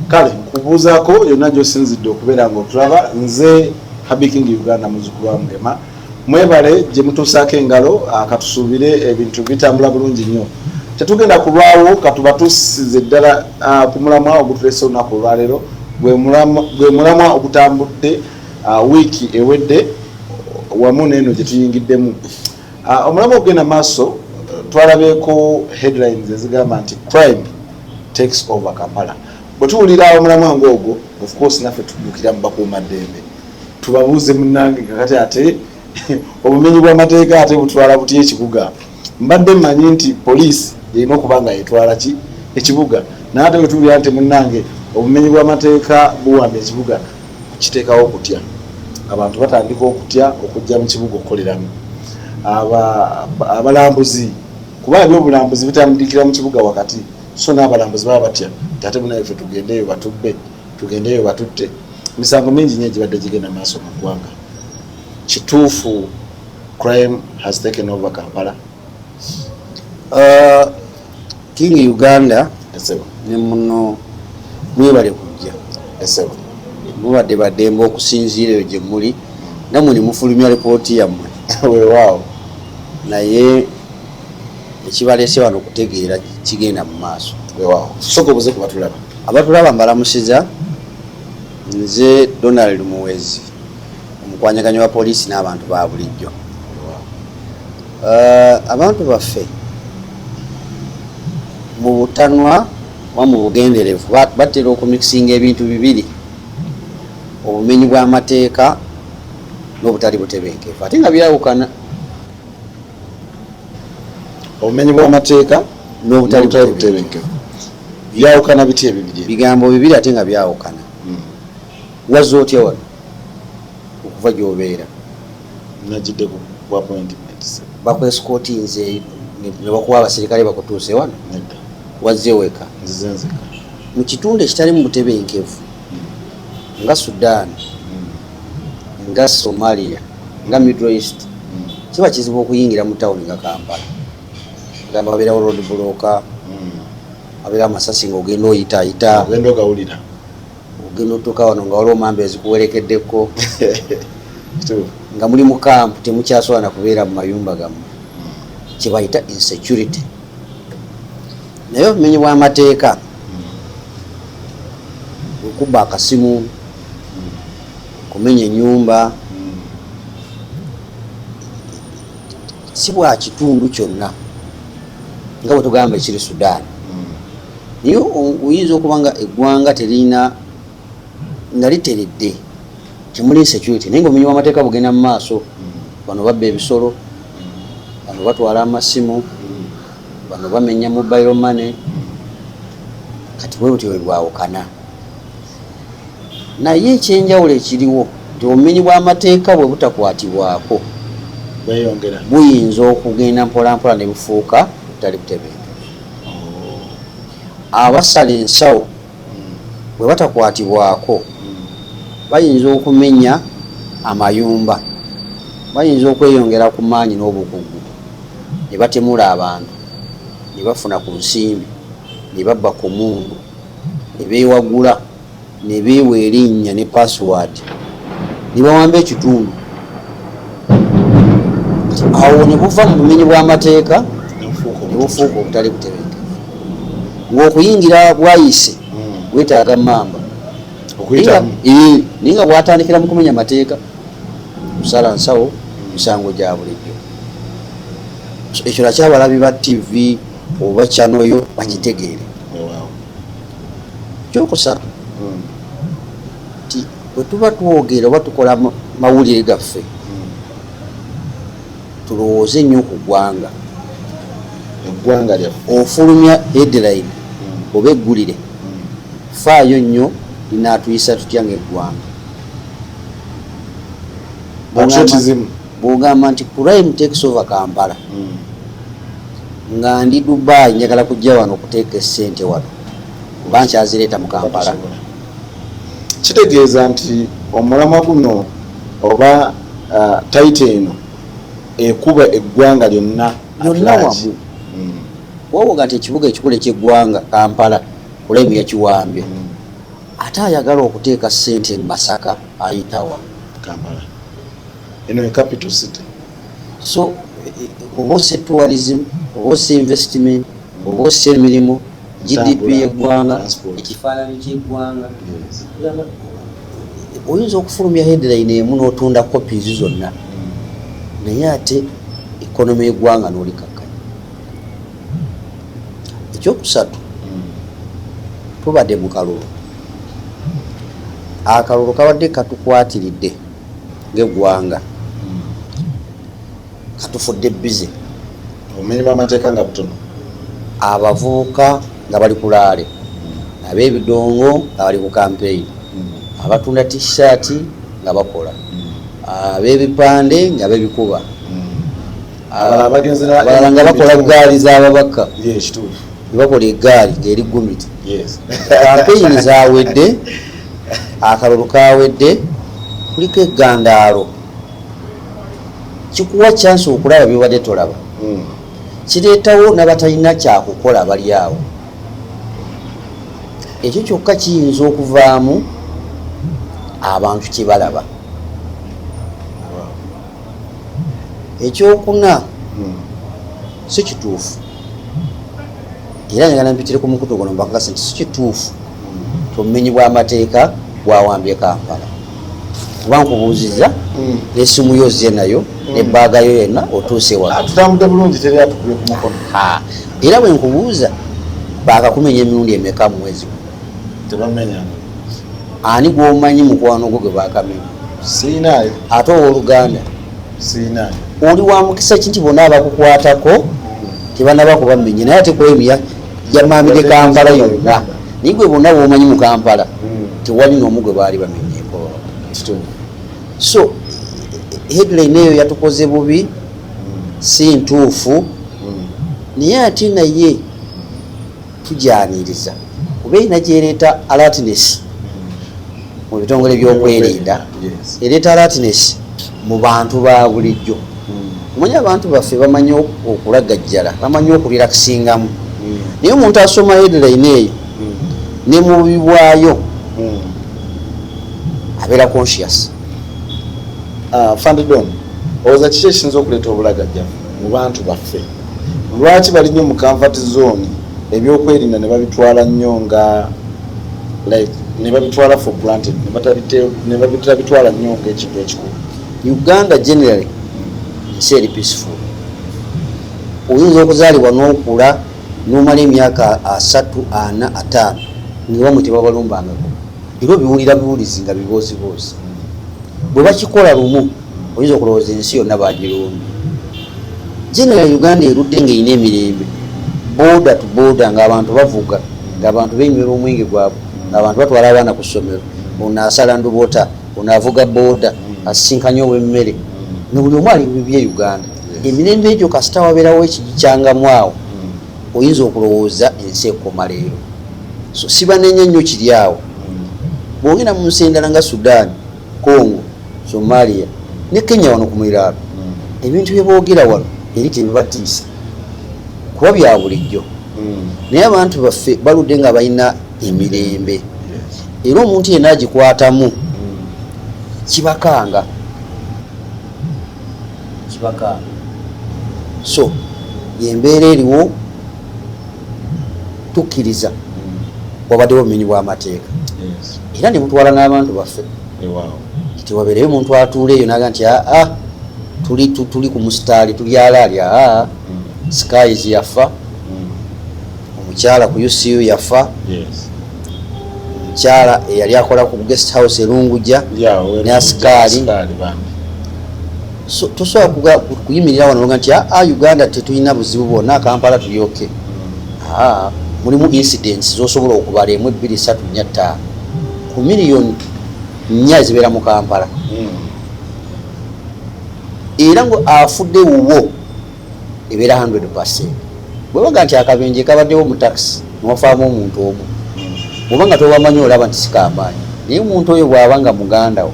kale nkubuuzaako yonna gyosinzidde okubeera nga otulaba nze habiking uganda muzukulu wa mugema mwebale gye mutuusaako engalo ah, katusuubire ebintu bitambula bulungi nnyo tetugenda kulwawo katuba tusize ddala ah, ku mulamwa ogutulese olunaku olwaleero gwe mulamwa ogutambudde ah, wiiki ewedde wamu neeno gye tuyingiddemu Ah, omulamu okugenda maaso twalabyeko headlines ezigamba nti crime takes over kampala bwetuwulira omulamu ange ogwo ofcourse naffe tudukira mu bakuuma ddembe tubabuuze munange kakati ate obumenyi bw'amateeka ate butwala butya ekibuga mbadde mmanyi nti poliisi erina okuba nga yetwala ki ekibuga naye ate wetuwulira nti munange obumenyi bw'amateeka buwamba ekibuga kukiteekawo okutya abantu batandika okutya okujja mu kibuga okukoleramu abalambuzi kuba ebyobulambuzi bitandikira mu kibuga wakati so n'abalambuzi baba batya tate munayefe tugendeyo batubbe tugendeyo batutte emisango mingi nyo egibadde gigenda maaso mu ggwanga kituufu crime has taken over kampala Uh, king uganda ne muno mwebale kujja mubadde bademba okusinziira eyo gye muli namwe ne mufulumya lipooti yammwe wewaawo naye ekibaleese wano okutegeera kigenda mu maaso wewaawo soka obuze kubatulaba abatulaba mbalamusiza nze donald muwezi omukwanyaganyo wa poliisi n'abantu ba bulijjo eh, abantu baffe mu butanwa oba mu bugenderevu batera okumikisinga ebintu bibiri obumenyi bw'amateeka n'obutali butebenkevu ate nga byawukana obumenyi bw'amateeka n'obutali butebenkevu byawukana biti ebibiri bigambo bibiri ate nga byawukana Wazze otya wano okuva gy'obeera? Najjidde ku appointment. Bakwescootinze ne bakuwa abaserikale bakutuuse wano? Nedda. Wazze weka? Nzize nzeka. Mu kitundu ekitalimu butebenkevu hmm. nga Sudan, hmm. nga Somalia, nga Middle East, hmm. kiba kizibu okuyingira mu tawuni nga Kampala. Gamba wabeerawo road bulooka, wabeerawo amasasi ng'ogenda oyitaayita. Ogenda ogawulira. ogenda otuuka wano nga waliwo mamba ezikuwerekeddeko nga muli mukampu temukyasobola nakubeera mu mayumba gammwe kyebayita insecurity naye obumenyi bw'amateeka okubba akasimu kumenya enyumba si bwa kitundu kyonna nga bwe tugamba ekiri sudan hmm. naye oyinza okuba nga eggwanga terina nga literedde temuli security naye nga omenyi wamateeka bugenda mu maaso hmm. bano babba ebisolo bano batwala amasimu hmm. bano bamenya mobile money kati bwe butyo bwebwawukana naye ekyenjawulo ekiriwo nti obumenyi bw'amateeka bwe butakwatibwako buyinza okugenda mpolampola ne bufuuka butali butebenke oh. abasala ensawo hmm. bwe batakwatibwako hmm. bayinza okumenya amayumba bayinza okweyongera ku maanyi n'obukugu ne batemula abantu ne bafuna ku nsimbi ne babba ku mundu ne beewagula ne beewa erinnya ne paasiwaadi ne bawamba ekitundu awo ne buva mu bumenyi bw'amateeka ne bufuuka obutali butebenke ng'okuyingira bwayise hmm. weetaaga mamba naye nga bwatandikira mu kumenya amateeka kusala nsawo misango gya bulijjo ekyo nakyabalabi ba tivi oba channel yo bagitegeere kyokusatu hmm. nti bwetuba twogera oba tukola mawulire gaffe hmm. tulowooze nnyo ku ggwanga eggwanga lyaffe ofulumya headline hmm. oba eggulire faayo nnyo linaatuyisa tutya ngaeggwanga bwogamba nti crime takes over kampala mm. nga ndi dubai njagala kujja wano okuteeka esente wano kuba nkyazireeta mu kampala kitegeeza nti omulamwa guno oba uh, taita eno ekuba eggwanga lyonna lyonna wamu mm. wowoga nti ekibuga ekikula ekyeggwanga kampala kulaimu yakiwambye mm. ate ayagala okuteeka sente mu masaka ayitawa kampala eno ye capital city so oba osse tourism oba osse investment oba osse emirimu gdp yeggwanga ekifaananyi kyeggwanga oyinza okufulumya headline emu n'otunda copies zonna naye ate ekonomi yeggwanga n'olikakkanya ekyokusatu tubadde mu kalulu akalulu kabadde katukwatiridde ngegwanga katufudde bize obumenyi bwamateeka nga butono abavubuka nga bali kulaale abebidongo nga bali ku kampeyini hmm. abatunda tishati nga bakola hmm. abebipande nga bebikuba hmm. abalala nga bakola ggaali z'ababaka nebakola eggaali ng'eri gumiti kampeyini zawedde akalulu kawedde kuliko egandaalo kikuwa kyansi okulaba byobadde tolaba hmm. kireetawo nabatalina kyakukola bali awo ekyo kyokka kiyinza okuvaamu abantu kyebalaba ekyokuna hmm. si kituufu era njagala mpitire ku mukutu guno mbakakasa nti si kituufu hmm. tomumenyi bw'amateeka gwawambye kampala kuba nkubuuziza hmm. n'essimu yo ozze nayo nebbaaga yo yenna otuuse wa ah, tutambudde bulungi teri atukubye ku mukono era bwe nkubuuza baakakumenya emirundi emeka mu mwezi tebamenya ani gwomanyi mukwano gwo gwe bakamenya siinayo ate owoluganda siinayo oli wa mukisa ki nti bona abakukwatako tebanaba kubamenye naye ate kwemya yamaami ne kampala yonna naye gwe bonna bwomanyi mu kampala hmm. tewali noomu gwe baali bamenyeko so headline eyo yatukoze bubi hmm. si ntuufu hmm. naye ate naye tugyaniriza kuba erina gyereeta alatines mu bitongole byokwerinda ereeta alatines mu bantu ba bulijjo omanyi abantu baffe bamanyi okulagajjala bamanyi okulirakisingamu hmm. naye omuntu asoma headline eyo hmm. ne mubibwayo hmm. abeera conscious ah, fandidon owoza kiki ekiyinza okuleeta obulagajja mu bantu baffe Lwaki bali nnyo mu comfort zone ebyokwerinda nebabitwala nnyo nga like nebabitwala for granted nebatabitwala nnyo nga ekintu ekikulu uganda generally nsi eri peaceful oyinza okuzaalibwa n'okula nomala emyaka asatu ana ataano newamwe tebabalumbangako era obiwulira buwulizi nga bibooziboozi bwe bakikola lumu oyinza okulowooza ensi yonna bagirumbye general uganda erudde ngaerina emirembe boda to boda ngaabantu bavuga ngaabantu benywera omwenge gwabwe ngaabantu batwala abaana ku ssomero ono asala ndubota ono avuga boda asisinkanye owemmere nobuli omu ali bibye uganda emirembe egyo kasita wabeerawo ekigikyangamu awo oyinza okulowooza ensi ekoma leero so sibanenya nnyo kiri awo bwogenda mu nsi endala nga sudan congo somalia ne kenya wano ku muliraano mm. ebintu bye boogera wano eri tebibatiisa kuba bya bulijjo mm. naye abantu baffe baludde nga balina emirembe era omuntu yenna agikwatamu mm. kibakanga kibakanga so yembeera eriwo tukkiriza wabaddewo obumenyi bw'amateeka era ne mutwala n'abantu baffe nti wabeereyo omuntu atuula eyo naga nti aa ah, ah, tuli tuli ku musitaali tuli alaali aa ah, mm. skies yafa mm. omukyala ku ucu yafa omukyala eyali akola ku guest house erunguja ne asikaali tosobola kuyimirira wano nga nti aa uganda tetulina buzibu bwonna kampala tuli oke mm. mulimu incidents zosobola okubala emu ebbiri satu nya ttaano ku miliyoni nnya zibeera mu kampala hmm. era nga afudde wuwo ebeera 100 percent bwebaga nti akabenje kabaddewo mu taxi newafaamu omuntu omu hmm. oba nga tobamanyi olaba nti sikamaanyi naye omuntu oyo bwaba nga muganda wo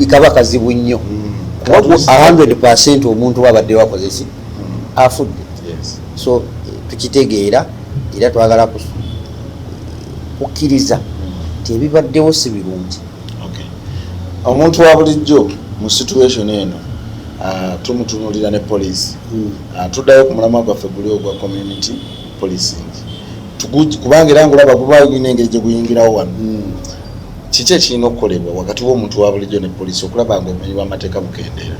kaba kazibu nnyo hmm. kuba 100 percent omuntu wabadde wakozesi afudde so tukitegeera era twagala kukkiriza nti ebibaddewo si birungi omuntu wa bulijjo mu situation eno ah, tumutunulira ne poliisi hmm. ah, tuddayo ku mulamwa gwaffe guli ogwa community policing kubanga era ngaolaba gubayo gulina engeri gye guyingirawo wano hmm. kiki ekirina okukolebwa wakati w'omuntu wa bulijjo ne poliisi okulaba nga obumenyi bw'amateeka bukendeera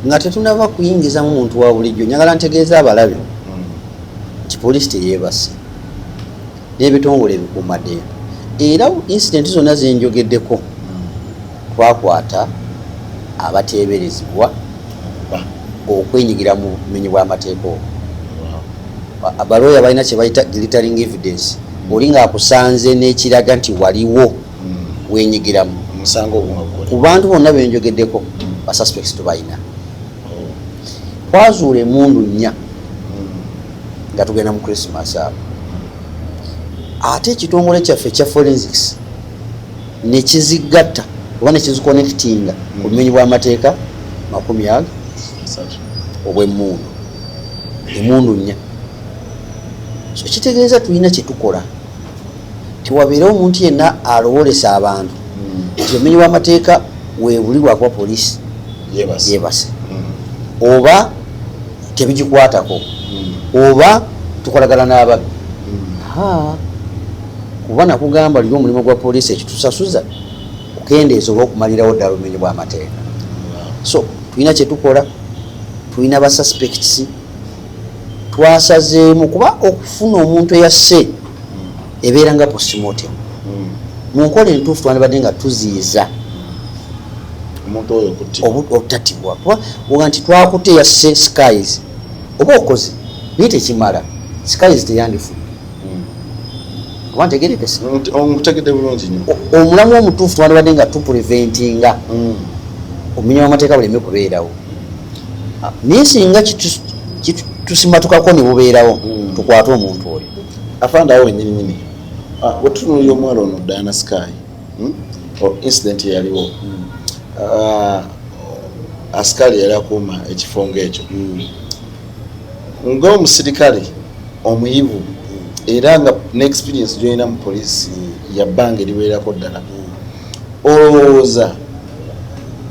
nga tetunaba kuyingizamu muntu wa bulijjo njagala ntegeeza abalabe hmm. nti poliisi teyeebase n'ebitongole ebikuumaddembe era incidenti zonna zenjogeddeko twakwata abateeberezebwa okwenyigira mu bumenyi bw'amateeka obo abalooya balina kye bayita glittering evidence oli ng'akusanze n'ekiraga nti waliwo hmm. wenyigiramu ku bantu bonna benjogeddeko basuspects tubalina twazuula emundu nnya nga tugenda mu christmas abo ate ekitongole kyaffe ekya forensics nekizigatta oba nekiziconnectinga hmm. obumenyi bwamateeka makumi aga obwemundu emundu nnya so kitegeeza tulina kyetukola tewabeere omuntu yenna alowolesa abantu hmm. nti omenyi w'amateeka webuli lwakuba poliisi yebase hmm. oba tebigikwatako hmm. oba tukolagana n'ababi kuba nakugamba liri omulimu gwa poliisi ekitusasuza okukendeeza oba okumalirawo ddala obumenyi bw'amateeka so tulina kyetukola tulina ba suspects twasazeemu kuba okufuna omuntu eyasse ebeera nga postmortem hmm. mu nkola entuufu twandibadde nga tuziyiza obutatibwa kuba oga nti twakute yasse skies oba okoze naye tekimala skies teyandifudde oba ntegerekese nkutegedde bulungi nyo omulamu omutuufu twandibadde nga tupreventinga hmm. omumenyi wamateeka buleme kubeerawo ah, naye singa kitusimatukako nebubeerawo hmm. tukwate omuntu oyo afande awo wenyininyini ah, wetutunulira omuwala ono diana sky hmm? incident eyaliwo ah, asikali yali akuuma ekifo ngaekyo ng'omusirikale omuyivu era nga ne experience gyolina mu poliisi ya bbanga eriwererako ddala olowooza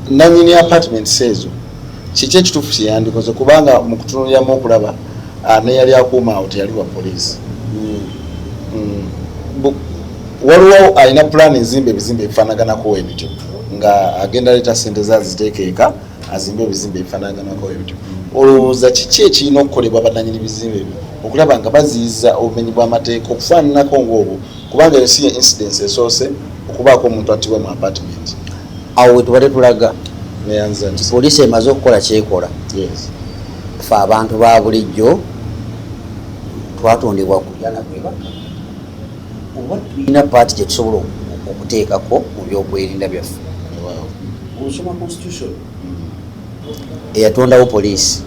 nanyini apartments ezo kiki ekituufu kyeyandikoze kubanga mu kutunuliramu okulaba ah, neyali akuuma awo teyali wa poliisi hmm. Hmm. waliwo alina pulaani ezimba ebizimba ebifanaganako ebityo nga agenda leeta sente zaziteekeeka azimba ebizimbe ebifanaganako ebityo olowooza kiki ekirina okukolebwa bananyini bizimbe ebyo okulaba nga baziyiza obumenyi bw'amateeka okufaananako ngaobwo kubanga eyo si ye incidence esoose okubaako omuntu attibwa mu apartment awo wetubadde tulaga poliisi emaze okukola kyekola fe abantu ba bulijjo twatondebwa kulyana kwebaka oba tulina paati gyetusobola okuteekako mu byokwerinda byaffe Osoma constitution eyatondawo poliisi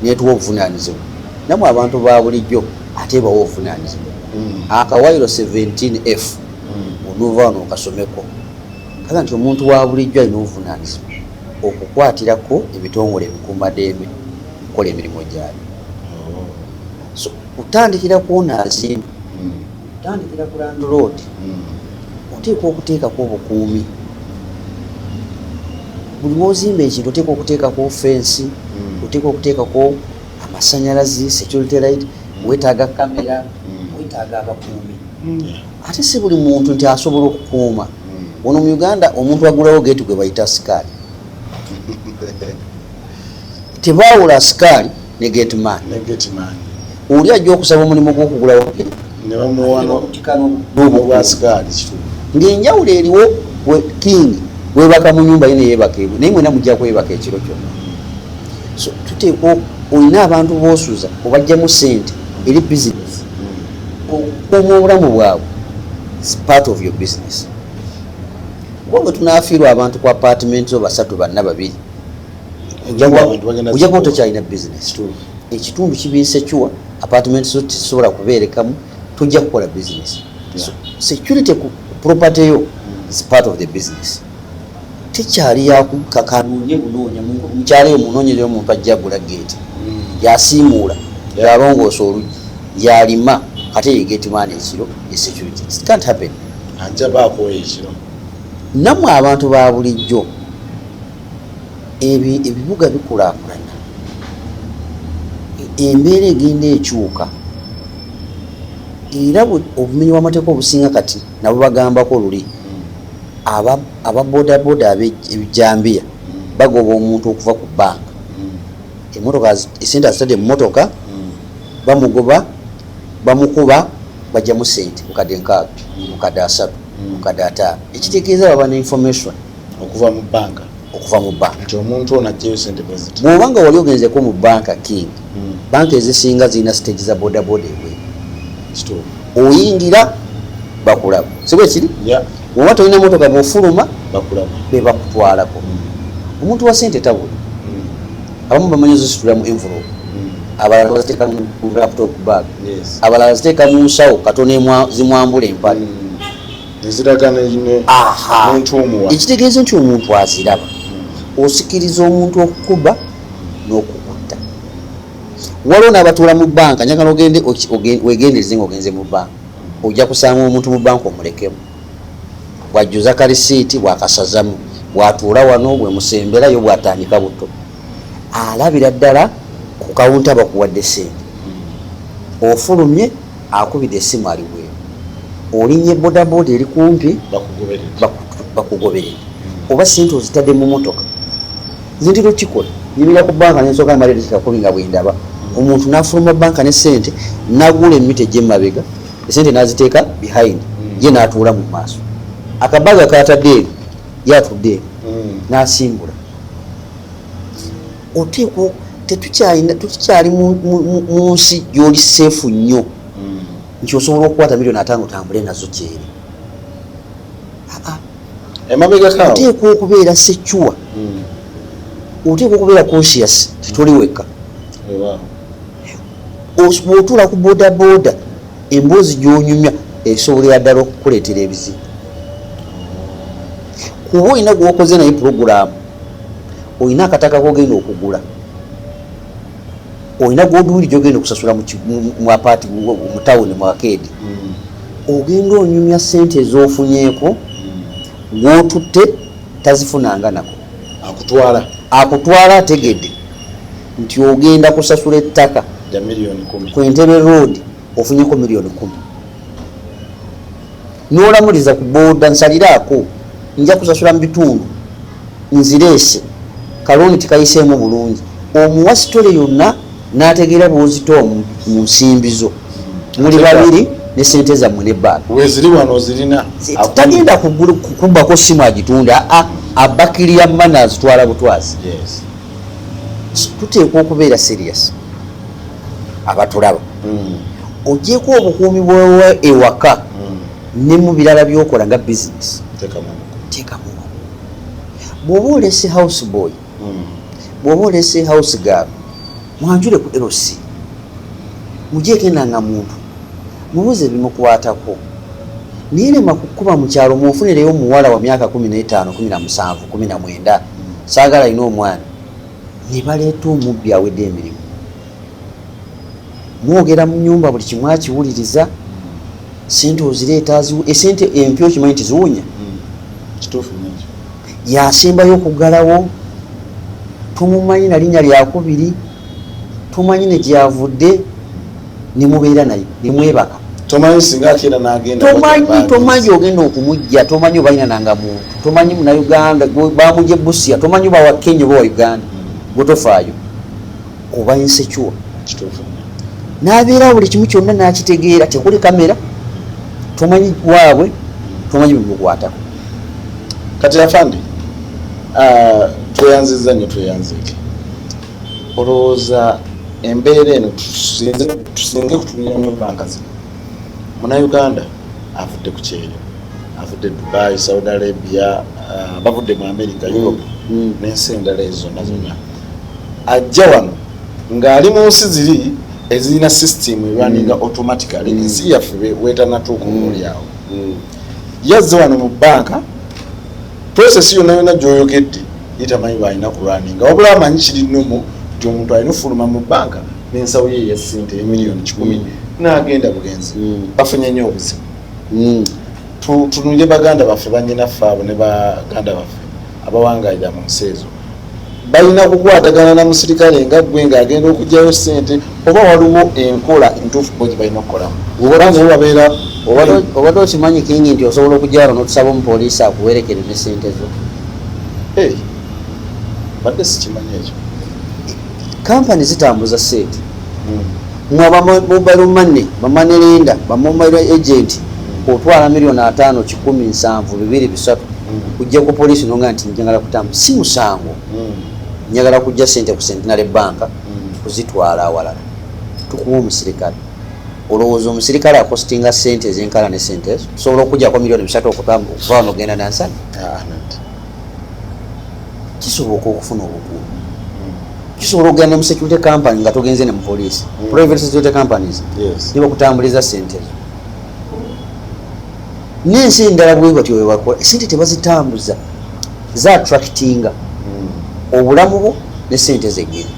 netuwa obuvunanyizibwa namwe abantu ba bulijjo ate bawa obuvunanyizibwa hmm. akawayiro 17f hmm. onuva wano okasomeko kaga nti omuntu wa bulijjo alina obuvunanyizibwa okukwatirako ebitongole ebikuumadembe okukola emirimu gyayo oh. so kutandikira kwona azimba Tandikira ku landiloodi, oteekwa okuteekako obukuumi. Buli wozimba ekintu oteekwa okuteekako fensi, hmm. oteekwa okuteekako amasanyalazi, security light, hmm. wetaaga kamera, hmm. wetaaga abakuumi. Ate si buli muntu nti asobola okukuuma. Ono mu Uganda omuntu agulawo geeti gwe bayita sikaali. tebaawula asikaali ne getman oli ajja okusaba omulimu gwokugulawo ngaenjawulo eriwo king webaka mu nyumba ye neyebaka ebwe naye mwena mujja kwebaka ekiro kyona so tuteekwa olina abantu bosuza obajjamu sente eri business okukuuma obulamu bwabwe part of your business kuba bwe tunafiirwa abantu ku apartment zo basatu banna babiri ojakuba tokyalina business tu ekitundu kiba insecure apartment zo tezisobola kubeerekamu tojja kukola business security ku property yo is part of the business tekyali yakukakanoonye bunoonya mukyalo yo munoonyereyo omuntu ajja agula geeti mm. yasiimuula yalongoosa oluggi yalima ate yegeeti mwana ekiro esecurity can't happen anjabaakooyo ekiro namwe abantu ba bulijjo ebibuga bikulaakulana, embeera egenda ekyuka era obumenyi bw'amateeka obusinga kati nabo bagambako luli aba bodaboda ebijambiya bagoba omuntu okuva ku bbanka emotoka esente azitadde mu motoka bamugoba bamukuba bajjamu sente mukadde nkaaga mukadde asatu mukadde ataano ekitegeeza baba ne information okuva mu banka okuva mu banka nti omuntu ono ajjayo sente bweziti bwoba nga wali ogenzeko mu banka king hmm. banka ezisinga zirina stage za bodaboda ewe oyingira bakulaba siba ekiri oba tolina motoka bwofuluma bebakutwalako hmm. omuntu wa sente tabula hmm. abamu bamanyi zisitula mu envelope abalala baziteeka mu laptop bag abalala ziteeka mu nsawo katono zimwambula empale ekitegeeza nti omuntu aziraba osikiriza omuntu okukuba n'okukutta waliwo n'abatuula mu banka njagala ogende wegendereze nga ogenze mu banka ojja kusanga omuntu mu banka omulekemu bwajjuza kalisiiti bwakasazamu bwatuula wano bwemusemberayo bwatandika buto alabira ddala ku kawunta bakuwadde sente ofulumye Akubide esimu ali bweru. Olinye boda boda eri kumpi bakugobere. Oba sente ozitade mu motoka. Zindi lukikola. Nimira ku banka nensoka mali lukika kubi nga bwendaba. Omuntu nafuluma banka ne sente nagule mite jema bega. Sente naziteka behind. Mm. Ye natuula mu maso. Akabaga kata deri. Yatu deri. Mm. Nasimbula. oteekwa tetukyalina tetukyali mu nsi gyoli seefu nnyo hmm. nti osobola okukwata milioni atano otambule nazo gyeri oteekwa okubeera secuwa hmm. oteekwa okubeera conscious tetuli wekka bwotuula ku bodaboda emboozi gyonyumya esobolera ddala okukuleetera ebizibu kuba olina gwokoze naye pulogulaamu olina akataka kogenda okugula olina gwoduwiri gyogenda okusasula muapaati mutawuni muakeedi hmm. ogenda onyumya sente ezofunyeeko hmm. gwotutte tazifunanga nako akutwala akutwala ategedde nti ogenda kusasula ettaka ku entebe road ofunyeko miliyoni kumi nolamuliza ku boda nsaliraako nja kusasula mu bitundu nzireese kalooni tikayiseemu bulungi omuwa sitole yonna n'ategeera bwozita omu mu nsimbi zo muli babiri ne sente zammwe ne bbaala tagenda kubbako simu agitunde abakiriya mana azitwala butwazi tuteekwa okubeera serious abatulaba mm. ogyeko obukuumi bwewa ewaka mm. ne mu birala byokola nga bisinesi teekamu bwoba olese house boy mm. bwoba olese house gal mwanjule ku lc mugyekenda nga muntu mubuze ebimukwatako naye lema kukuba mukyalo munfunireyo omuwala wa myaka kumi n'etaano kumi na musanvu kumi na mwenda saagala alina omwana ne baleeta omubbi awedde emirimu mwogera mu nyumba buli kimu akiwuliriza sente ozireeta esente eh, empi okimanyi nti ziwunya hmm. yasembayo okugalawo tumumanyi nalinya lyakubiri tumanyi negyavudde ne mubeera naye ne mwebaka tomanyi singa akeera nagenda tomanyi tomanyi ogenda okumujja tomanyi obalina nanga muntu tomanyi muna uganda bamuje busia tomanyi oba wa kenya oba wa uganda gwetofaayo oba insecure nabeera buli kimu kyonna nakitegeera tekuli kamera tomanyi waabwe tomanyi bimukwatako kati afande ah, tweyanziza nyo tweyanzike olowooza embeera eno tusinze kutuliranyo banka zino munauganda avudde ku kyeyo avudde dubai saudi arabia uh, bavudde mu america mm. europe mm. nensi endala ezo zonna zonna ajja wano ng'ali mu nsi ziri ezirina system erwaninga mm. automatically ensi yaffe wetanatuuka omulyawo yazze wano mu banka Process yonna yonna gyoyogedde ye tamanyi bwalina kulwaninga wabula amanyi kiri nomo nti omuntu alina ofuluma mu bbanka n'ensawo ye eya ssente emiliyoni kikumi mm. n'agenda bugenzi mm. bafunye nnyo obuzibu mm. tunulire baganda baffe banyinaffe abo ne baganda baffe abawangalira mu nsi ezo balina kukwatagana na musirikale nga gwe nga agenda okugyayo sente oba waliwo enkola entuufu bo gyebalina okukolamu obababeera obadde okimanyi kingi nti osobola okugyalo notusaba omupoliisi akuwerekere ne sente zo badde sikimanyi ekyo kampani zitambuza sente hmm. nga bamobile money bamoney lenda bamobile agent otwala milioni atano kikumi nsanvu bibiri bisatu kujja ku polisi nonga nti njagala kutamba si musango hmm. njagala kujja sente ku centenary banka hmm. kuzitwala awalala tukuwa omusirikale olowooza omusirikale akositinga sente ezenkala ne sente ezo osobola okujjako milioni bisatu okutamba okuvaano ogenda nansana ah, kisoboka okufuna obukuumi kisobola okugenda mu security company nga togenze ne mu police mm. private security companies nebakutambuliza sente zo nensi endala bwebatyo webakola esente tebazitambuza za attractinga mm. obulamu bwo ne sente zegeri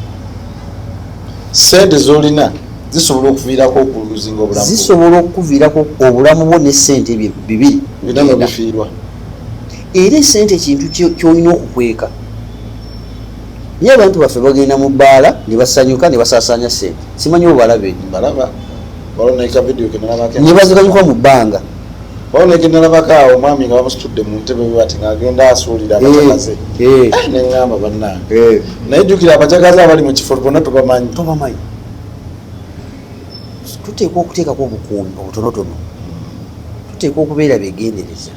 sente zolina zisobola okuviirako okuluzinga obulamu zisobola okukuviirako obulamu bwo ne sente bibiri bifiirwa era esente kintu kyolina okukweka naye abantu baffe bagenda mu bbaala ne basanyuka ne basaasaanya sente simanyi obalabe ne bazikanyuka mu bbanga onegenalabakaawo omwami nga bamusitudde mu ntebe bati ngaagenda asuulira abacakaze eh, eh. ah, neŋamba bannange eh. naye jjukira abacakaze abali mu kifo bona tubamanyi tubamanyi tuteekwa okuteekako obukuumi obutonotono tuteekwa okubeera begendereza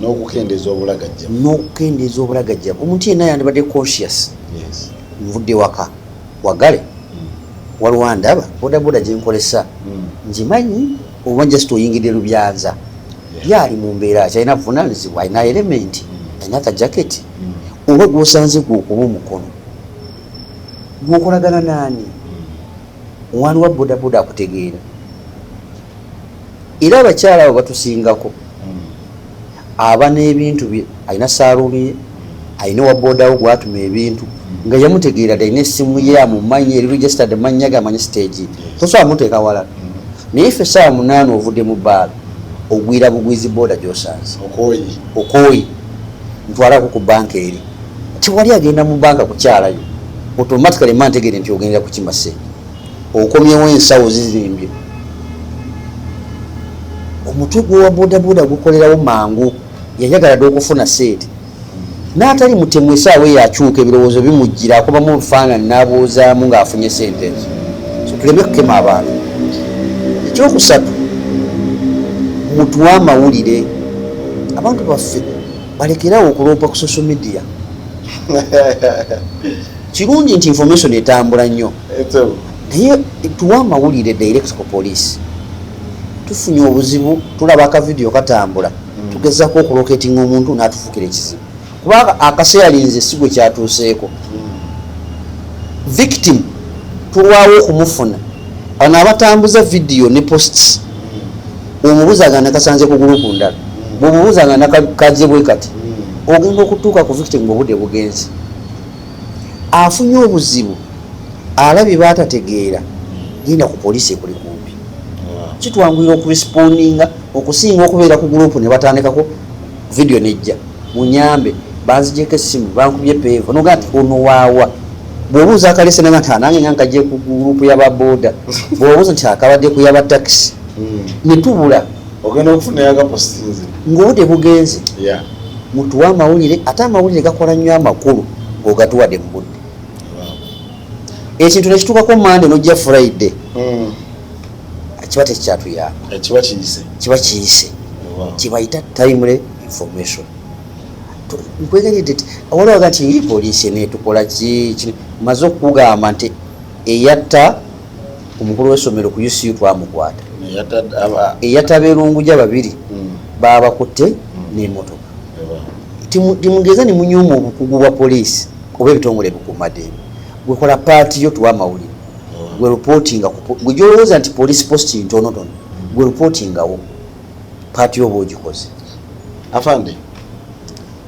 n'okukendeeza obulagajjavu n'okukendeeza obulagajjavu omuntu yenna yandibadde conscious nvudde waka wagale hmm. waliwo ndaba bodaboda gye nkolesa hmm. ngimanyi oba just oyingidde lubyanza yaali mu mbeera ki alina buvunaanyizibwa alina elementi hmm. alina akajaketi oba gwosanze gwe okuba omukono gwokolagana naani omwani wa bodaboda akutegeera era abakyala abo batusingako aba n'ebintu bye alina saaluuni ye alina owa boodawo gwatuma ebintu nga yamutegeera dda alina essimu ye amumanyi eri registered mannya ge amanyi siteegi tosobola muteeka wala naye ffe essaawa munaana ovudde mu bbaala ogwira bugwizi booda gy'osanze okooyi ntwalako ku banka eri tewali agenda mu banka kukyalayo automatically mantegeere nti ogendera kukima ssente okomyewo ensawo zizimbye omutwe gwowa bodaboda gukolerawo mangu yayagala dde okufuna seeti n'atali mutemu esaawa eyo akyuka ebirowoozo bimujjira akobamu obufaanani n'abuuzaamu ng'afunye sente ezo so tuleme kukema abantu ekyokusatu mutuwa amawulire abantu baffe balekerawo okuloopa ku social media kirungi nti information etambula nnyo naye tuwa amawulire direct ku police tufunye obuzibu tulaba akavidiyo katambula hmm. tugezako okuloketinga omuntu natufukira ekizibu kuba akaseera linze sigwe kyatuuseeko hmm. victim tulwawo okumufuna bano abatambuza vidiyo ne posts hmm. omubuzaga nakasanze ku gulupu ndala bwomubuzaga nakajebwe kati ogenda okutuuka ku victim ngaobude bugenzi afunye obuzibu alabye batategeera genda ku poliisi ekuli kumpi kitwangulira okurespondinga okusinga okubeera ku gurupu ne batandikako vidiyo nejja munyambe banzijeko essimu bankubye peevu nogaa nti ono waawa bwobuuza akalese naga nti anange ah, nga nkajje ku gurupu yababoda bwobuuza nti akabadde ku yabatakisi hmm. netubula ogenda okufunayo agapostinze ngaobudde bugenze mutuwa amawulire ate amawulire gakola nnyo amakulu ngaogatuwade mu budde ekintu nekituukako mande nojja friday hmm. kiba tekikyatuyamba kiba kiyise kibayita timely information nkwegeredde ti awaliwaga nti poliisi enetukola ki maze okugamba nti eyatta omukulu w'essomero ku UCU twamukwata eyatabeerunguja babiri hmm. baabakutte hmm. n'emotoka timugeza ne munyuma obukugu bwa poliisi oba ebitongole bukuumaddembe gwekola paati yo tuwa amawulire hmm. gwe ripootinga gwe gyolowooza nti poliisi positi ntonotono gwe ripootingawo paati yo oba ogikoze afande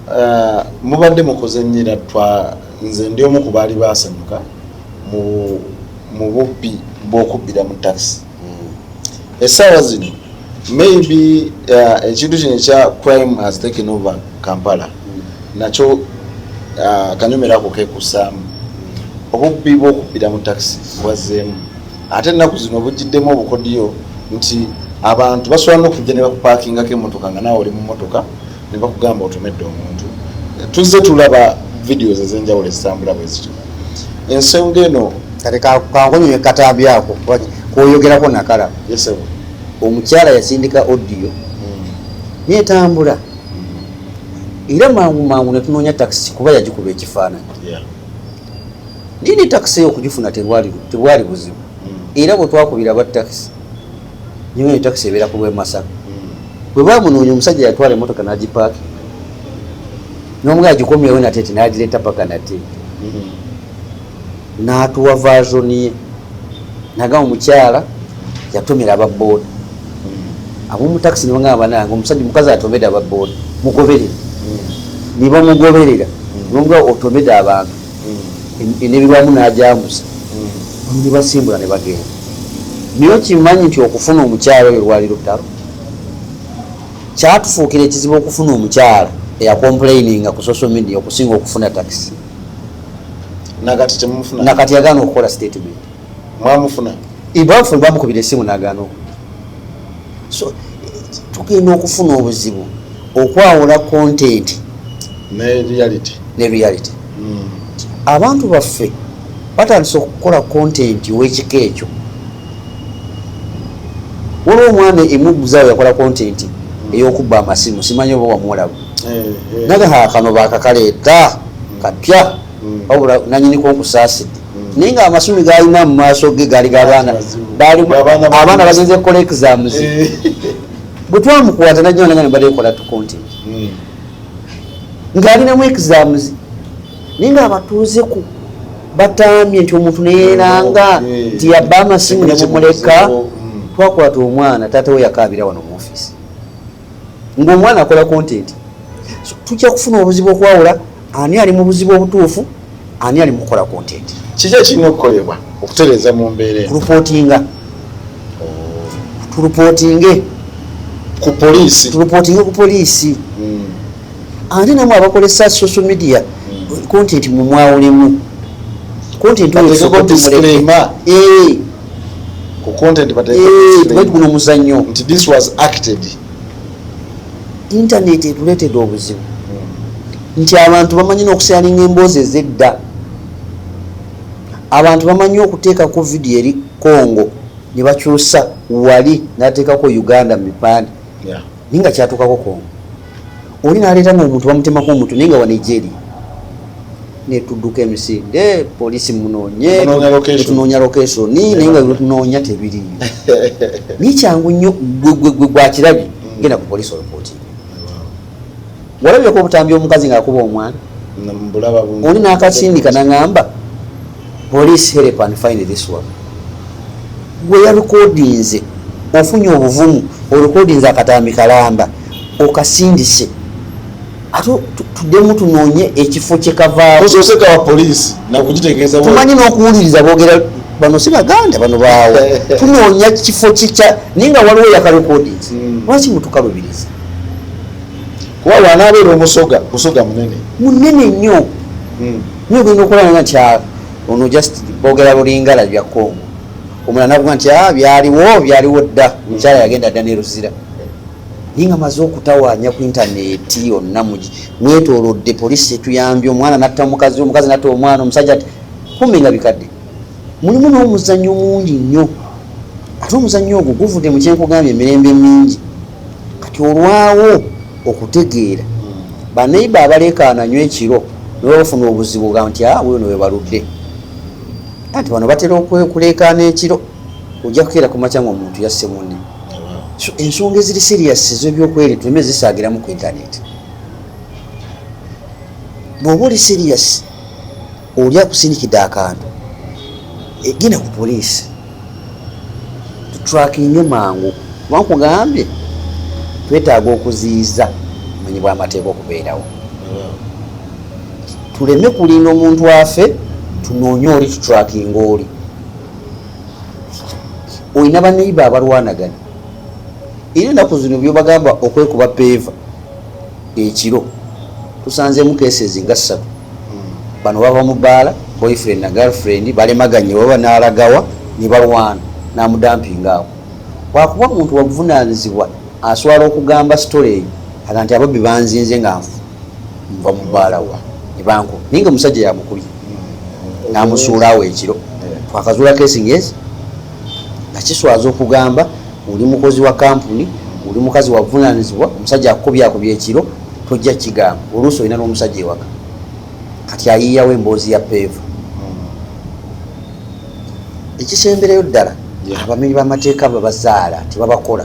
Uh, mubadde mukoze nyira twa nze ndi omu ku baali basanyuka mu mu bubbi bw'okubbira mu takisi hmm. essaawa zino maybe uh, ekintu kino ekya crime has taken over kampala hmm. nakyo uh, kanyumira ako kekusaamu hmm. obubbi bw'okubbira mu takisi bwazzeemu ate ennaku zino bujjiddemu obukodiyo nti abantu basobola n'okujja ne bakupakingako emmotoka nga naawe oli mu mmotoka ne bakugamba otomedde omuntu tuzze tulaba videos ezenjawulo ezitambula bwezityo ensonga eno kati kankonyonye katambi ako kwoyogerako nakala omukyala yasindika odiyo hmm. netambula hmm. era mangu mangu netunoonya takisi kuba yagikuba ekifaananyi naye ne takisi eyo okugifuna tebwali buzibu hmm. era bwetwakubira aba takisi nyinga ni taxi ebera kulwe masaka mm. bwe ba munonya omusajja yatwala emotoka na jipak nomu ga jikomi yawe na tete na ajile tapaka na te mm. na atuwa version ye na ga omuchala yatumira aba board mm. abu mu taxi ni wanga abana ngo omusajja mukaza atobeda aba board mugobere mm. ni ba mugobere ga mm. nomu ga otobeda abantu nebirwamu najambuza nebasimbula nebagenda naye okimanyi nti okufuna omukyalo oyo lwali lutalo kyatufuukira ekizibu okufuna omukyalo eyakomplaininga ku social media okusinga okufuna taxi nakati yagaana okukola statement mwamufuna ibafuna bamukubira esimu nagano so tugenda okufuna obuzibu okwawula content ne reality ne reality mm. abantu baffe batandise okukola content wekika ekyo waliwo omwana emuguzawo yakola content mm. eyokubba amasimu simanyi oba wamuwalabu eh, eh. naga hakano bakakaleeta mm. kapya mm. wabula nanyiniko nkusaasidde naye nga amasumi galina mu maaso ge gali gabaana abaana bagenze kukola exams eh. bwe twamukwata najjanaga ne badekola tukonti hmm. ng'alinamu exams naye nga abatuuzeku batambye nti omuntu neyeranga oh, eh. nti yabba amasimu nebumuleka hmm. twakwata omwana taata we yakaabira wano mu ofisi ng'omwana akola kontenti tujja kufuna obuzibu okwawula ani ali mu buzibu obutuufu ani ali mukukola kontenti kiki ekirina okukolebwa okutereeza mu mbeera kulupootinga tulupootinge ku poliisi tulupootinge ku poliisi hmm. ate namwe abakozesa social media hmm. kontenti mumwawulemu kontenti oyo ku content but i eh, guno muzanyo nti this was acted internet etuletede obuzibu hmm. nti abantu bamanyi nokusalinga emboozi ezedda abantu bamanyi okuteekako vidiyo eri congo ne bakyusa wali nateekako uganda mipande naye nga kyatuukako congo oli naleeta nga omuntu bamutemako omutu naye nga wanejeri netuduka emisinde polisi munonyetunoonya lokesoni naye nga tunoonya tebiri naye kyangu nnyo gwegwegwe gwakirabye mm. genda ku polisi olopoti walabyeko obutambi omukazi ngaakuba omwana oli nakasindika naŋamba police help and find this one gwe yalikodinze ofunye obuvumu olukodinze akatambi kalamba okasindise ate tuddemu tunoonye ekifo kyekavaaosoose kawa poliisi nakugitegeeza tumanyi n'okuwuliriza boogera bano si baganda bano baawo tunoonya kifo kikya naye nga waliwo yakarekodings hmm. lwaki mutukalubiriza kuba wanaabeera omusoga musoga munene munene nnyo hmm. nyo ogenda okulanga nti ah, ono just boogera lulingala bya congo omulala navuga nti ah, byaliwo byaliwo dda omukyala yagenda dda neruzira naye nga maze okutawaanya ku intaneeti yonna mwetolodde poliisi etuyambye omwana natta omukazi omukazi natta omwana omusajja ti kumbe nga bikadde mulimu n'omuzannyo mungi nnyo ate omuzannyo ogwo guvudde mu kyenkugambye emirembe mingi kati olwawo okutegeera baneiba abaleekaana nyo ekiro nebabafuna obuzibu ga nti a ah, wuyo newebaludde anti bano batera okwekuleekaana ekiro ojja kukeera ku makyanga omuntu yasse munne ensonga eziri serious ezebyokweri tuleme zisaagiramu ku intaneti bwoba oli serious oli akusindikidde akantu e, genda ku poliisi tutrakinge mangu wankugambye twetaaga okuziyiza omanyi bwamateeka okubeerawo tuleme kulinda omuntu afe tunoonye oli tutrakinga oli olina baneiba abalwanagana era enaku zino byobagamba okwekuba peeva ekiro tusanzemu kesezi nga ssatu hmm. bano bava mu baala boyfriend na girlfriend balemaganye baba nalagawa nebalwana namudampinga awo wakuba muntu wabuvunanyizibwa aswala okugamba storage aga nti ababbi banzinze nga nfu nva mu baalawa nebankuba naye nga omusajja yamukubye namusuula awo ekiro twakazuula kesi ngezi nga kiswaza okugamba oli mukozi wa kampuni oli mukazi wavunanizibwa omusajja akukubyakubya ekiro tojja kigamba oluusi olina n'omusajja ewaka kati ayiiyawo emboozi ya peevu hmm. ekisembereyo ddala abamenyi b'amateeka babazaala tebabakola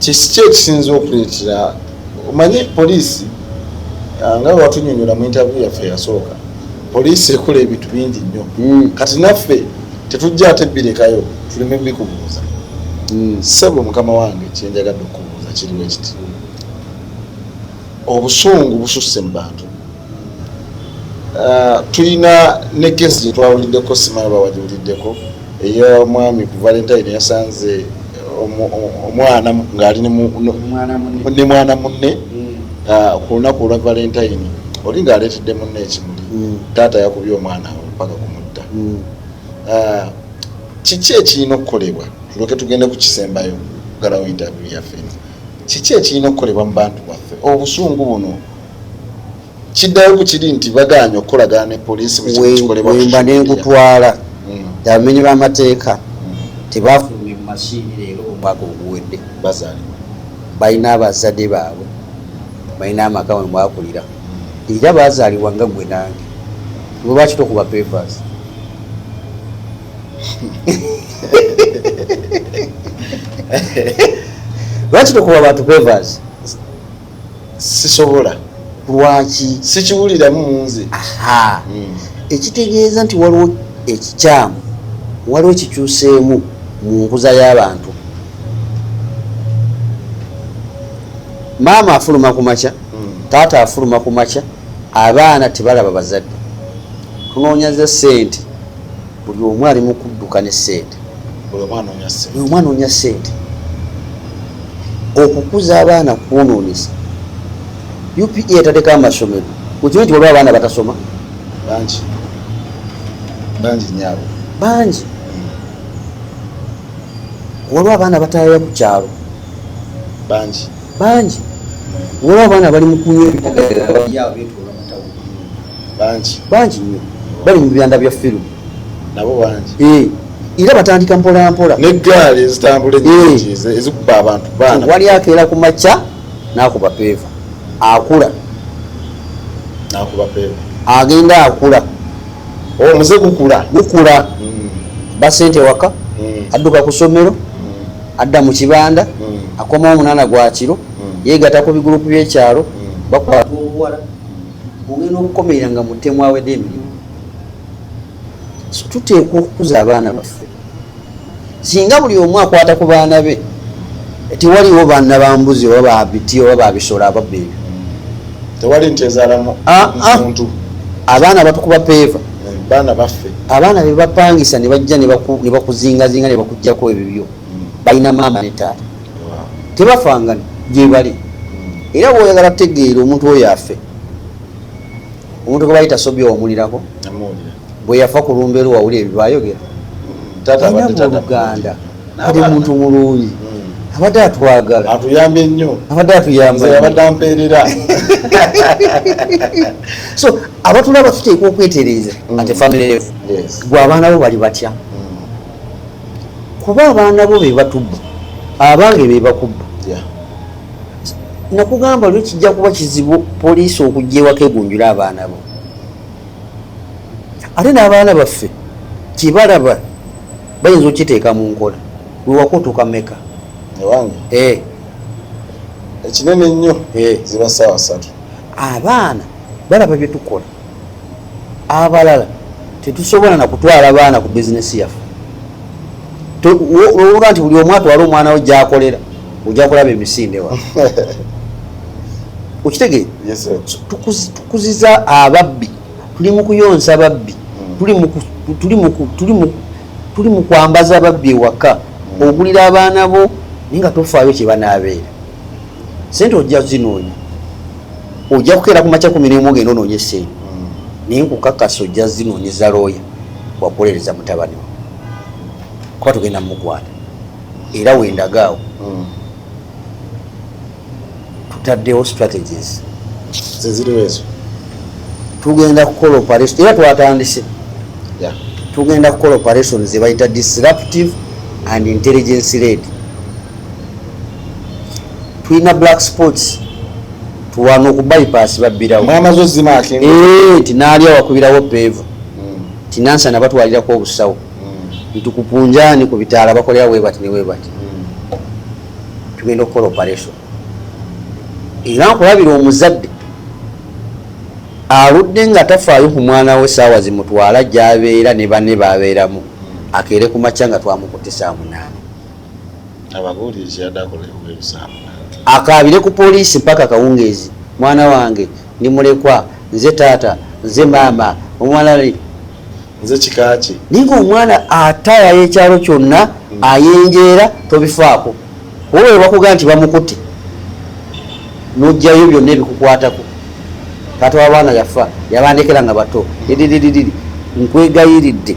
Kiki ekisinze okuleetera omanyi poliisi ah, nga watunyonyola mu interview yaffe yasooka poliisi ekola ebintu bingi nnyo hmm. kati naffe tetujja ate birekayo tuleme bikubuuza hmm. sebo mukama wange kyenjagadde okukubuuza kiriwo ekiti obusungu bususse mu bantu Uh, tulina ne kesi gyetwawuliddeko simanyi bawagiwuliddeko eyomwami ku valentine yasanze omwana ngaali ne mwana munne mm. uh, ku lunaku olwa valentine oli ngaaleetedde munne ekimuli mm. taata yakubye omwana awo paka kumutta mm. uh, kiki ekirina okukolebwa tuloke tugende ku kisembayo galawo interview yaffe kiki ekirina okukolebwa mu bantu baffe obusungu buno kiddayo ku kiri nti bagaanye okukolagana ne poliisi bwekikolebawemba nengutwala hmm. abamenyi b'amateeka hmm. tebafulumye mu masiini leero omwaka oguwedde bazaalibwa balina abazadde baabwe balina amaka we mwakulira hmm. era baazaalibwa nga gwe nange lwebaki tokuba papers lwaki tokuba bantu papers sisobola lwaki sikiwuliramu munze hmm. ekitegeeza nti waliwo ekikyamu waliwo ekikyuseemu mu nkuza y'abantu maama afuluma ku makya hmm. taata afuluma ku makya abaana tebalaba bazadde tunoonya ze sente buli omu ali mukudduka ne sente buli omu anoonya sente okukuza abaana kwononesa upa etadeko amasomero okimanyi nti waliwo abaana batasoma bangi bangi nyabo bangi waliwo abaana batayaya ku kyalo bangi bangi waliwo abaana bali mukunywa ebitagaera bangi bangi nnyo bali mu byanda bya firimu nabo bangi eh, era batandika mpolampola negaali ezitambula enyingi eh. ezikuba abantu baana wali akeera ku makya nakuba peeva akula nakuba peeva agenda akula omuze oh, gukula gukula hmm. basente waka hmm. adduka ku somero hmm. adda mu kibanda akomawo omunana gwakiro mm. yegata ku bigurupu byekyalo mm. bakwata obuwala ogenda okukomerera nga mutemu awede emirimu tuteekwa okukuza abaana baffe singa buli omu akwata ku baana be tewaliwo baana bambuzi oba babiti oba babisolo ababba ebyo tewali nti ezalamu ah, ah. muntu abaana batukuba peeva eh, baana baffe abaana bebapangisa nebajja nebakuzingazinga nebakujjako ebibyo mm. balina maama ne taata tebafangana gyebali era bwoyagala tegeera omuntu oyo afe omuntu gwebali tasobye wamulirako bweyafa ku lumba eri wawuli ebyo bayogera oluganda ali muntu mulungi hmm. abadde atwagala atuyambye nnyo abadde atuyambaabadde ampeerera so abatulaba tuteekwa okwetereeza hmm. ate famiry gwe abaana bo bali batya kuba abaana bo bebatubba abange bebakubba nakugamba lwe kijja kuba kizibu poliisi okujja ewaka egunjula abaana bo ate n'abaana baffe kyebalaba bayinza okiteeka mu nkola wewakutuka meka ewange eh. ekinene nnyo eh. ziba saawa satu abaana balaba byetukola abalala tetusobola nakutwala baana ku bizinesi yaffe olwoba nti buli omu atwala omwana we gyakolera ojja kulaba emisinde wa okitegeera tukuziza ababbi tuli mu kuyonsa babbi hmm. tuli mu kwambaza babbi ewaka hmm. ogulira abaana bo naye nga tofaayo kyebanaabeera sente ojja zinoonya ojja kukeera ku makya kumi nemu ogenda onoonye sente mm. naye nkukakasa ojja zinoonyeza looya wakuwolereza mutabani we kuba tugenda mumukwata era wendagaawo mm. tutaddewo strategies zeziriwo ezo tugenda kukola operation era twatandise tugenda kukola operation zebayita disruptive and intelligence lady tulina black sports tuwana oku bypass babbirawo mwamaze ozimaki eh, nti naalya wakubirawo peevu hmm. nti nansa nabatwalirako obusawo hmm. nti kupunjani ku bitaala bakolera webati ne webati hmm. tugenda okukola operation era nkulabira omuzadde aludde nga tafaayo ku mwana we saawa zimutwala gyabeera ne bane babeeramu akeere ku makya nga twamukutisa munaana ababuulizi yadde akolewo ebisamu akaabire ku poliisi mpaka akawungeezi mwana wange ndi mulekwa nze taata nze maama omwana nze kikaaki naye nga omwana atayaya ekyalo kyonna hmm. ayenjeera tobifaako oba webakuga nti bamukutte nojjayo byonna ebikukwatako taata wabaana yafa yabandekera nga bato dididididi nkwegayiridde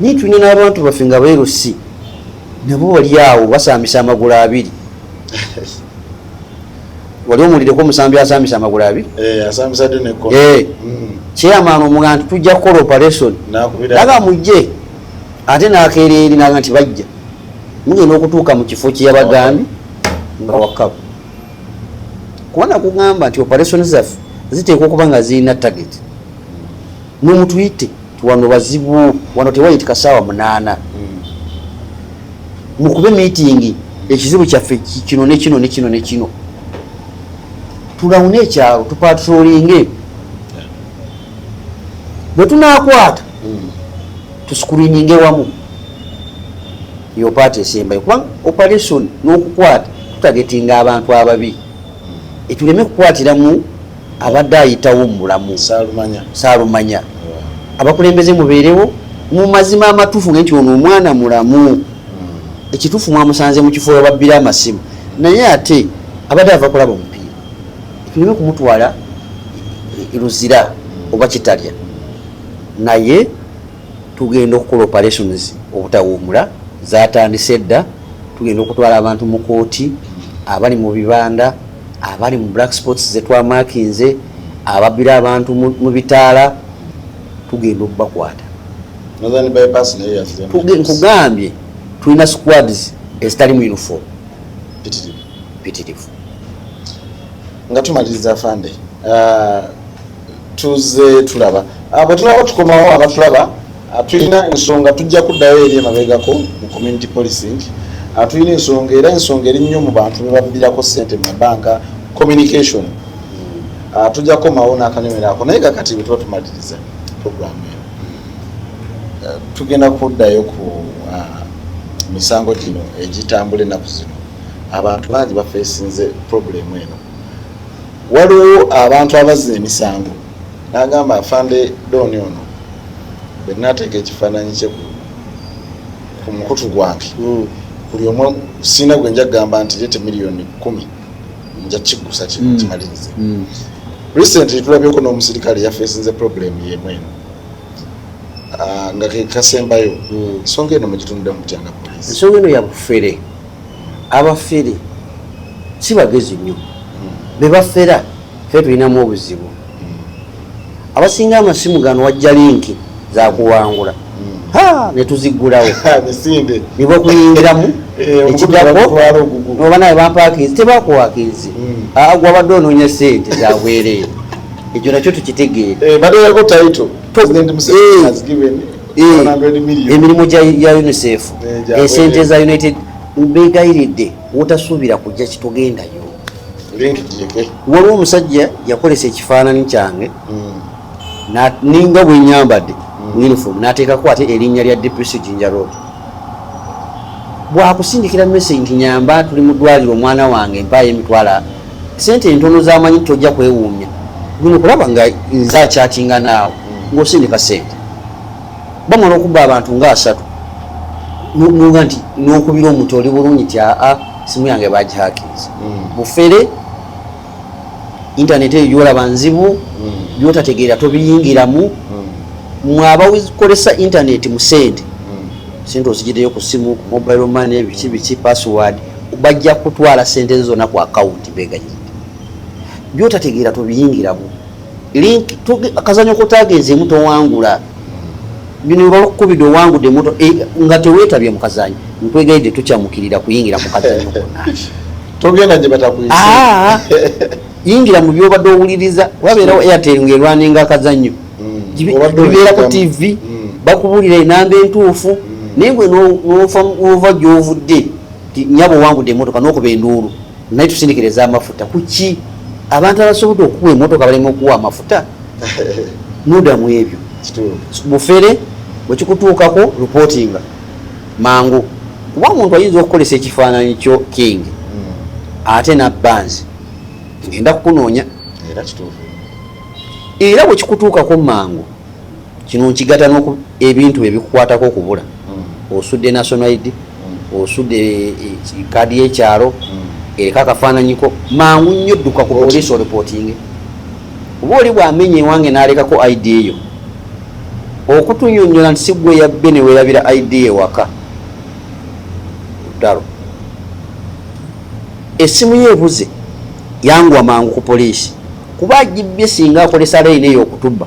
naye tulina n'abantu baffe nga beerusi nabo wali awo basaamisa amagulu abiri wali omuwulireko omusambi asaamisa amagulu abiri eh, eh. mm. kyeyamaana omuga nti tujja kukola operation naga mujje ate nakeera eri naga nti bajja mugenda okutuuka mu kifo kyeyabagambi nga wakaba kubana kugamba nti operation zaffe ziteekwa okuba nga zirina target mwe mutuyite wano wazibu wano tewayitika saawa munaana mukube miitingi ekizibu kyaffe kino nekino nekino nekino tulawune ekyalo tupatrolinge bwe tunakwata hmm. tusikurininge wamu eyo paati esembayo kubanga operation n'okukwata tutagetinga abantu ababi etuleme kukwatiramu abadde ayitawo mu bulamu saalumanya abakulembeze mubeerewo mu mazima amatuufu nge nti ono omwana mulamu hmm. ekituufu mwamusanze mu kifo webabbira amasimu naye ate abadde ava kulaba omupiira tuleme kumutwala luzira oba kitalya naye tugenda okukola operations obutawuumula zatandise dda tugenda okutwala abantu mu kooti abali mu bibanda abali mu black spots zetwamakinze ababira abantu mu bitaala tugenda okubakwata nkugambye tulina squads ezitali mu uniform pitirivu nga tumaliriza fande uh, tuzze tulaba ah, bwe tulaba tukomawo abatulaba ah, tulina ensonga tujja kuddayo eri emabegako mu community policing ah, tulina ensonga era ensonga eri nnyo mu bantu bebabbirako sente mu mabanka communication tujja kukomawo n'akanyomero ako naye kakati bwe tuba tumaliriza programu eno eh, tugenda kuddayo ku misango gino egitambula ennaku zino abantu bangi bafeesinze problemu eno Waliwo abantu abazza emisango n'agamba afande Don ono bwe nateeka ekifaananyi kye ku mukutu gwange hmm. buli omu siina gwe nja kugamba nti leete miliyoni kumi nja kigusa hmm. kimalirize hmm. recently tulabyeko n'omusirikale yafeesinze problem yemu eno ah, nga kekasembayo ensonga eno mugitunudde mutyanga polisi ensonga eno yabufere abafere si bagezi nnyo bebafera fe tulinamu obuzibu abasinga amasimu gano wajja linki zakuwangula hmm. netuziggulawo niba okuyingiramu eh, ekigako noba naye bampakinzi tebakuwakinzi hmm. ah, gwabadde onoonya sente zabwereere ekyo nakyo tukitegeere eh, eh, emirimu gya unicef eh, esente za united mbegayiridde wotasuubira kujja kitugendayo waliwo omusajja yakolesa ekifaanani kyange hmm. ninga bwenyambadde hmm. uniform nateekako ate erinnya lya dpc jinja road bwakusindikira message nti nyamba tuli mu ddwaliro omwana wange mpaayo emitwala sente entono zamanyi tojja kwewuunya guno kulaba nga nze akyatinga naawe ng'osindika sente bamala okubba abantu nga asatu nuga nti nokubira omuntu oli bulungi ti aa simu yange bagihakiriza hmm. mufere intaneti eyo gyolaba nzibu byotategeera hmm. tobiyingiramu hmm. mwabakolesa intaneti mu sente sente ozigideyo ku simu ku mobile money biki biki password bajja kutwala sente zona ku akawunti begayiza byotategeera tobiyingiramu link kazanyo kotagenzeemu towangula bino bakukubidde owangude moto eh, nga tewetabye mukazanyo nkwegayidde tukyamukirira kuyingira mukazanyo togenda gye batakuyise ah, yingira mu byobadde owuliriza wabeerawo airtel ngaerwaninga akazanyo mm. bibeera ku tv mm. bakubuulira enamba entuufu mm. naye gwe nova gyovudde nyabo owangude emotoka nokuba enduulu naye tusindikira ezamafuta kuki abantu abasobodde okuwa emotoka balema okuwa amafuta mudamu ebyo bufere bwekikutuukako reportinga mangu kuba omuntu ayinza okukolesa ekifaananyi kyo king hmm. ate nabbanzi ngenda kukunoonya era bwekikutuukako mangu kino nkigata noku ebintu ebikukwatako okubula mm. osudde national id mm. osudde kaadi eh, yekyalo mm. ereka akafaananyiko mangu nnyo dduka ku poliisi oreportinge oba oli bwamenya ewange nalekako id eyo okutunyonyola nti sigwe yabbe neweyabira id ewaka dalo esimu ye ebuze yangwa mangu ku poliisi kuba agibbye singa akolesa layini eyo okutubba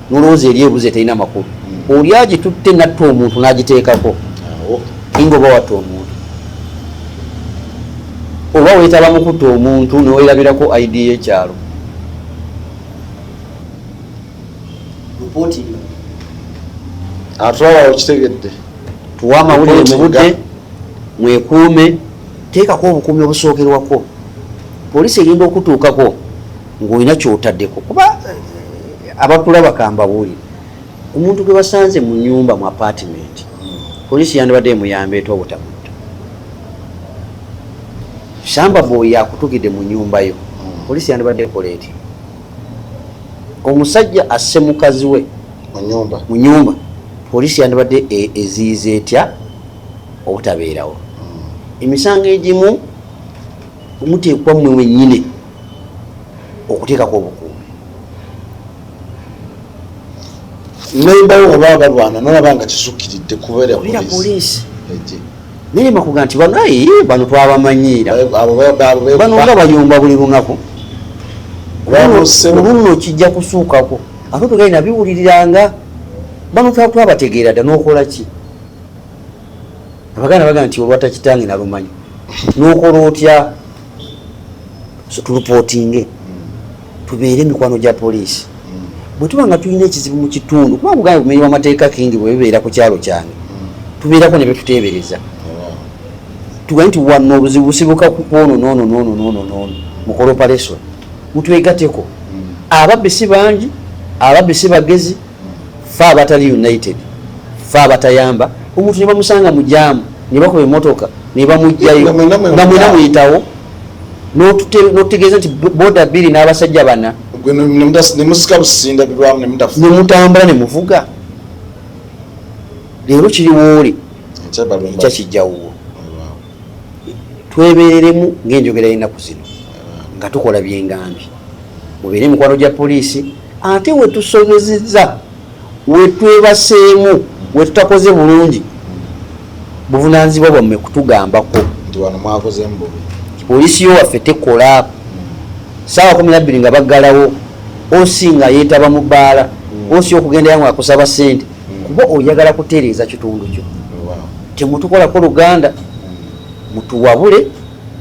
nolowooza eri ebuzi eterina makulu oli agitutte natta omuntu nagiteekako inga oba watta omuntu oba wetaba mukutta omuntu newerabirako id yekyalo atwala okitegedde tuwa amawulire mubudde mwekuume teekako obukuumi obusookerwako poliisi egenda okutuukako ng'olina kyotadeko kuba eh, abakulaba kambawuli omuntu gwe basanze mu nyumba mu apartment polisi yandibadde emuyamba eta obutamutta samba boy yakutugidde mu nyumba yo polisi yandibadde ekola eti omusajja asse mukazi we mu nyumba polisi yandibadde e, eziyiza etya obutabeerawo hmm. emisango egimu Muteekwa mmwe mwennyini okuteekako obukuumi. Nembawo oba balwana nolaba nga kisukiridde kubeera poliisi. Naye makuga nti bano ayi bano twabamanyiira bano nga bayomba buli lunaku olunno kijja kusuukako ate tugali nabiwuliriranga bano twabategeera dda nokola ki abaganda bagamba nti olwata kitange nalumanyi nokola otya tulupotinge tubeere emikwano gya poliisi bwetuba nga tulina ekizibu mu kitundu kuba kugamba bumenyi bwamateeka kingi bwebibeera ku kyalo kyange tubeerako ne betuteebereza tugambe nti wano obuzibu busibuka kwono nono nono nono nono mukole operation mutwegateko ababbi si bangi ababbi si bagezi fe abatali united fe abatayamba omuntu nebamusanga mujamu nebakuba emotoka nebamugjayo nga mwena muyitawo notutegeeza nti boda biri n'abasajja bana nemutambula nemuvuga leero kiriwooli ekya kijjawuwo twebereremu ng'enjogera y'ennaku zino nga tukola byengambi mubeere emikwano gya poliisi ate wetusobezeza wetwebaseemu wetutakoze bulungi buvunanyizibwa bwammwe kutugambako poliisi yo waffe tekola saawa kumi nabbiri nga baggalawo osi nga yeetaba mu bbaala osi okugendayo nga akusaba ssente kuba oyagala kutereeza kitundu kyo temutukolako luganda mutuwabule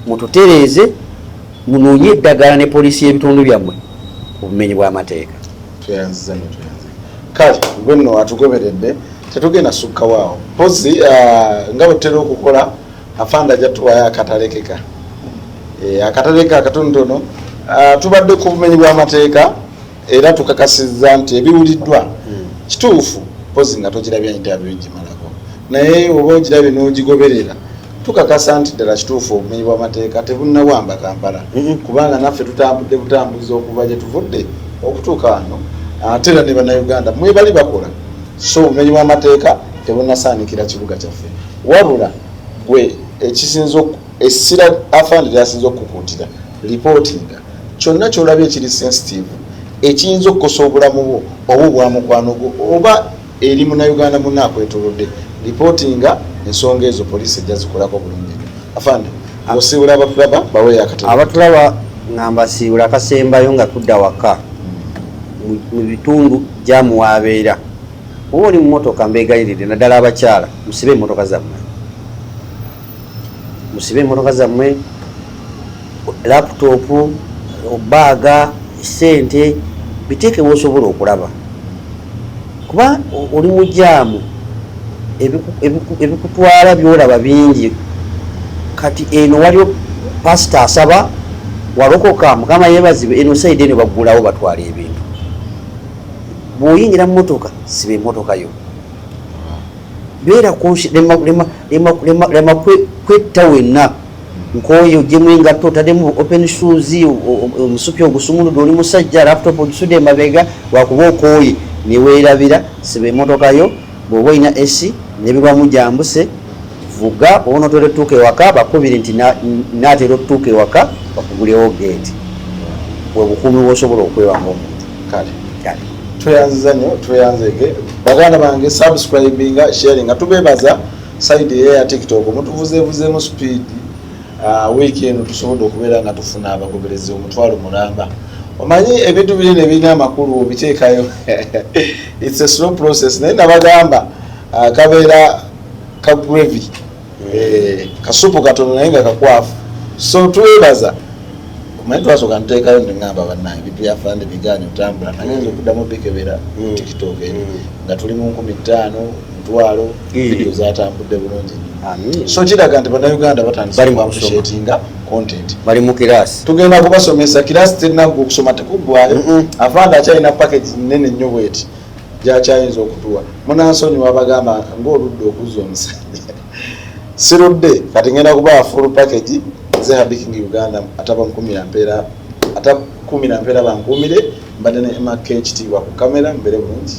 mututereeze munoonye eddagala ne poliisi y'ebitundu byammwe obumenyi bw'amateeka tweyanziza nyo tweyanziza kale gwe nno atugoberedde tetugenda sukkawo awo mpozi uh, nga bwetutera okukola afanda ajja tuwayo akatalekeka eh, akatalekeka akatonotono uh, tubadde ku bumenyi bw'amateeka era tukakasizza nti ebiwuliddwa hmm. kituufu mpozi nga togirabya interview gimalako naye oba ogirabye n'ogigoberera tukakasa nti ddala kituufu obumenyi bw'amateeka tebunnawamba kampala hmm. kubanga naffe tutambudde butambuzi okuva gye tuvudde okutuuka wano ate era ne bannayuganda mwebali bakola so obumenyi bw'amateeka tebunasaanikira kibuga kyaffe wabula gwe ekisinza Essira Afande ly'asinze okukukuutira, lipootinga kyonna ky'olabye ekiri sensitiivu ekiyinza okukosa obulamu bwo oba obwa mukwano gwo oba eri Munnayuganda munno akwetoolodde. Lipootinga ensonga ezo, poliisi ejja zikolako bulungi nnyo. Afande, ng'osiibula abakulaba baweeyo akatono. Abatulaba nga mbasiibula akasembayo nga tudda waka hmm. mu bitundu jaamu w'abeera. Oba oli mu mmotoka mbeegayiridde naddala abakyala musibe emmotoka zammwe. musibe emotoka zammwe laputopu obaaga sente biteeke wosobola okulaba kuba oli mujaamu ebikutwala byolaba bingi kati eno waliwo pasita asaba walokoka mukama yebazibwe eno saidi eno baggulawo batwala ebintu bwoyingira mumotoka siba emotoka yo beera kunsi lema kwetta wenna nkooye ojemu engatto otademu open shoes omusupi ogusumuludde oli musajja laptop ogisude emabega wakuba okooye newerabira siba emotoka yo bwoba olina esi nebibamu gyambuse vuga onotera otuuka ewaka bakubiri nti natera otuuka ewaka bakugulewo geeti bwebukuumi bwosobola okwewa ngaomuntu kale kale tweyanziza nnyo tweyanzege baganda bange subscribinga sharinga tubebaza saidi eyo ya tiktok mutuvuzevuzeemu speed ah, wiiki eno tusobodde okubeera nga tufuna abagoberezi omutwalo mulamba omanyi ebintu biri nebirina amakulu obiteekayo its a slow process naye nabagamba ah, kabeera ka gravy eh, kasupu katono naye nga kakwafu so twebaza omanyi twasoka nteekayo neŋamba banange bintu byafande biganye otambula naye nze okuddamu bikebera mm. tiktok eri mm. nga tuli mu nkumi ttaano mutwalo mm. vidio zatambudde bulungi so kiraga nti banauganda batandisatinga content bali mu kirasi tugenda kubasomesa kirasi terinaga okusoma tekuggwayo afande akyalina package nene nnyo bweti gyakyayinza okutuwa munansonyiwa abagamba ngaoludde okuzza omusajja sirudde kati ngenda kubaa full package nze habiking uganda atabankumira mpeera atakumira mpeera bankuumire mbadde ne emaka ekitiibwa ku kamera mbeere bulungi